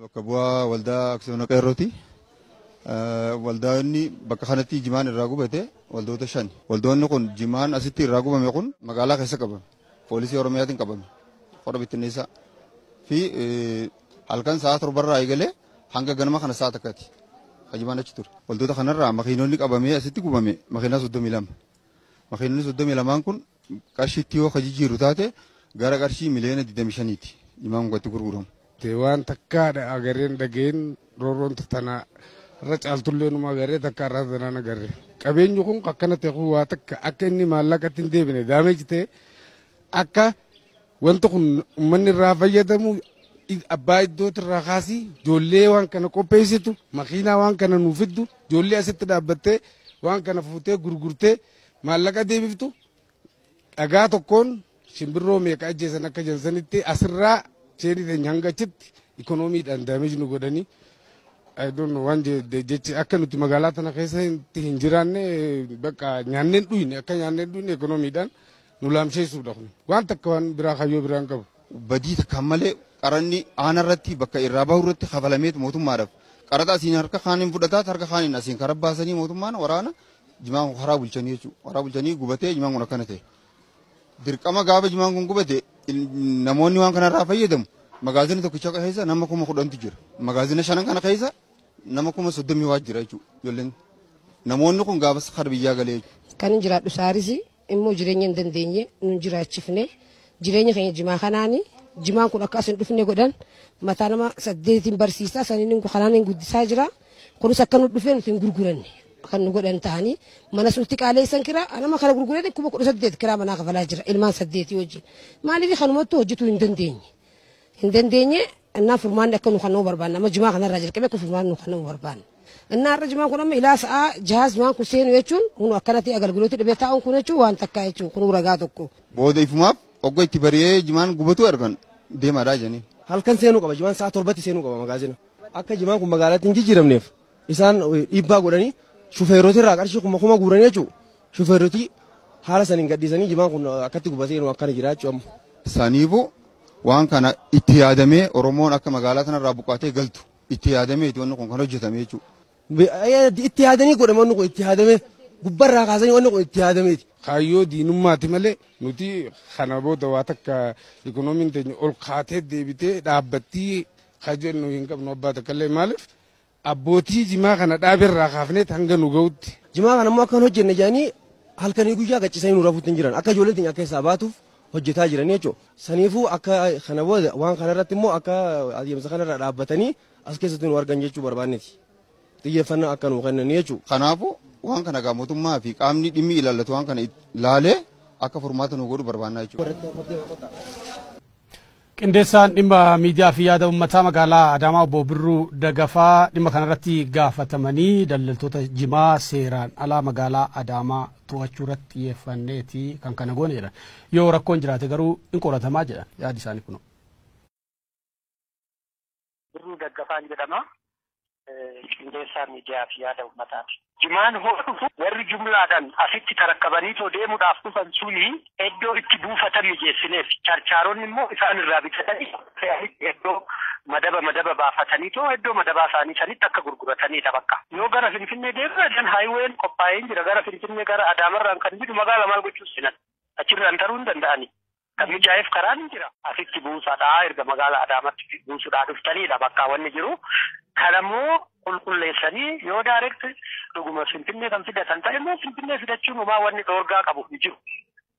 Bakka bu'aa waldaa aksiyoona qeerrooti. Waldaanni bakka kanatti jimaan irraa gubate waldoota shan. Waldoonni kun jimaan asitti irraa gubame kun magaalaa keessa qabame. Poolisii Oromiyaatiin qabame. Qora bittinneessaa. Fi halkan sa'a torbarraa eegalee hanga ganama kana sa'a takkati. Hajimaan achi ture. Waldoota kanarraa makiinonni qabamee asitti gubame makiinaa soddomii lama. Makiinonni soddomii lamaan kun qarshiitti yoo ka jijjiirru taate gara qarshii miliyoona 25 ti imaam gatti gurguramu. Waan takkaa dha agarreen dhageen roorroon tanaa irra caaltullee numa agarree takkaa irraa tanaan agarre. Qabeenyi kun akkana ta'e kun waa takka akka inni maallaqatti hin deebine daameeji ta'e akka wanti kun uummanni irraa fayyadamu abbaa iddootti irraa kaasii ijoollee waan kana qopheessitu makiinaa waan kana nuuf fiddu ijoollee asitti dhaabbattee waan kana fuutee gurgurtee Maallaqa deebiftu dhagaa tokkoon shimbirroo meeqa ajjeesan akka jedhan sanitti asirraa cheenii teenya hanga achitti ikoonomiidhaan daameeji nu godhanii I don't know waan je- de- jechi akka nuti magaalaa tana keessatti hin jiraanne bakka nyaanneen dhuyne akka nyaanneen dhuyne ikoonomiidhaan nu laamsheessuudha kun waan takka waan biraa kayyoo biraa hin qabu. badii takkaan malee qaranni aana irratti bakka irraa bahu irratti kafalameet mootummaadhaaf qaraxa asiin harka kaaniin fudhataa harka kaaniin asiin karaa baasanii mootummaan waraana jimaan kun karaa bulchanii jechuudha. Karaa bulchanii gubatee jimaan kun akkana ta'e. Dirqama gaafa jimaan kun gubate namoonni waan kanarraa fayyadamu magaazina tokkicha keessa nama kuma kudhantu jira. Magaazina shanan kana keessa nama kuma soddomii waa jira jechuudha. Ijoolleen namoonni kun gaafas kara biyyaa galee jechuudha. Kan hin jiraadhu saarisi immoo jireenya hin dandeenye nun jiraachifne jireenya keenya jimaa kanaani jimaan kun akka as hin dhufne godhan mataa nama saddeetiin barsiisaa saniin kanaan hin guddisaa jira kunis akka nu dhufee nuti hin gurguranne kan nu godhan ta'anii manas nutti qaaleessan kiraa anama kana gurguranii kuma kudha saddeet kiraa manaa kafalaa jira ilmaan saddeetii wajjin maaliif kanumattuu hojjetuu hin dandeenye. hin dandeenye innaa furmaanni akka nu kennamu barbaanna amma jimaa kanarraa jalqabee akka furmaanni nu kennamu barbaanna. Innaa har'a jimaan kun amma ilaa sa'aa jahaa jimaan kun seenu jechuun kun akkanatti agalgilooti dhibee taa'uun kun jechuun waan takkaa jechuun kun ragaa tokko. Booda ifumaaf ogga itti bari'ee jimaan gubatuu argan deemaadhaa jedhanii. Halkan seenuu qaba jimaan sa'aa torbatti seenuu qaba magaazina akka jimaan kun magaalatti hin jijjiiramneef. Isaan dhiibbaa godhanii shufeerota irraa qarshii kuma kuma guuranii jechuun shufeeroti haala saniin gadhiisanii jimaan kun akkatti gubatee nu akkana jira jechuun amma. Saniifu waan kana itti yaadamee Oromoon akka magaalaa sanarraa buqqaatee galtu itti yaadamee itti wanni kun kan hojjetame jechuudha. Itti yaadanii godhame wanni kun itti yaadamee gubbarraa kaasanii wanni kun itti yaadameeti. Kaayyoo diinummaati malee nuti kana booda waa takka ikoonomiin teenya ol kaatee deebitee dhaabbattii ka jennu hin qabnu abbaa takkallee maaliif Abbootii jimaa kana dhaabe irraa kaafneet hanga nu ga'utti. Jimaa kana immoo akka hin hojjenne jedhanii halkanii guyyaa gachisanii nu rafuutti hin jiran. Akka ijoolleen teenya keessaa baatuuf hojjetaa jiranii jechuudha. Saniifuu akka kana booda waan kana irratti immoo akka adeemsa kana irraa dhaabbatanii as keessatti nu argan jechuu barbaanneti. Xiyyeeffannaa akka nuu kennanii jechuudha. Kanaafuu waan kana egaa mootummaa fi qaamni dhimmi ilaallatu waan kana laalee akka furmaata nuu godhu barbaannaa jechuudha. Qindeessaan dhimma miidiyaa fi yaada ummataa magaalaa Adaamaa obbo Birruu Dagafaa dhimma kanarratti gaafatamanii daldaltoota jimaa seeraan alaa magaalaa Adaamaa to'achuu irratti xiyyeeffanneeti kan kana goone jedhan. Yoo rakkoon jiraate garuu in qoratamaa jedhan yaadi isaanii kunoo. Birruu Daggafaan jedhama. Qindeessaa miidiyaa fi yaada uummataati. Jimaan hoo dhufu warri jumlaadhaan asitti tarakkabanii too deemuudhaaf dhufan suni iddoo itti buufatan mijeessineef. Charchaaronni immoo isaan irraa bitatanii fe'anitti iddoo madaba madaba baafatanii too iddoo madabaa isaanii sanitti akka gurgurataniidha bakka. Yoo gara Finfinnee deemna dan haayiween qophaa'een jira gara Finfinnee gara Adaamarraan kan jiru magaala maal gochuu seenan achirraan taruu hin danda'ani. Kan mijaa'eef karaan hin jira. Asitti buusadhaa erga magaala Adaamatti buusudhaa dhuftaniidha bakkaa wanni jiru. Kana immoo qulqulleessanii yoo direct dhuguma Finfinnee kan fidatan ta'e immoo Finfinnee fidachuun homaa wanni dhoorgaa qabu hin jiru.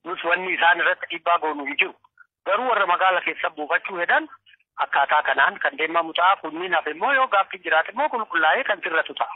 Nus wanni isaan irratti dhiibbaa goonu hin jiru. Garuu warra magaala keessa buufachuu hedan akkaataa kanaan kan deemamu ta'a. Kunniin hafe immoo yoo gaaffiin jiraate immoo qulqullaa'ee kan sirratu ta'a.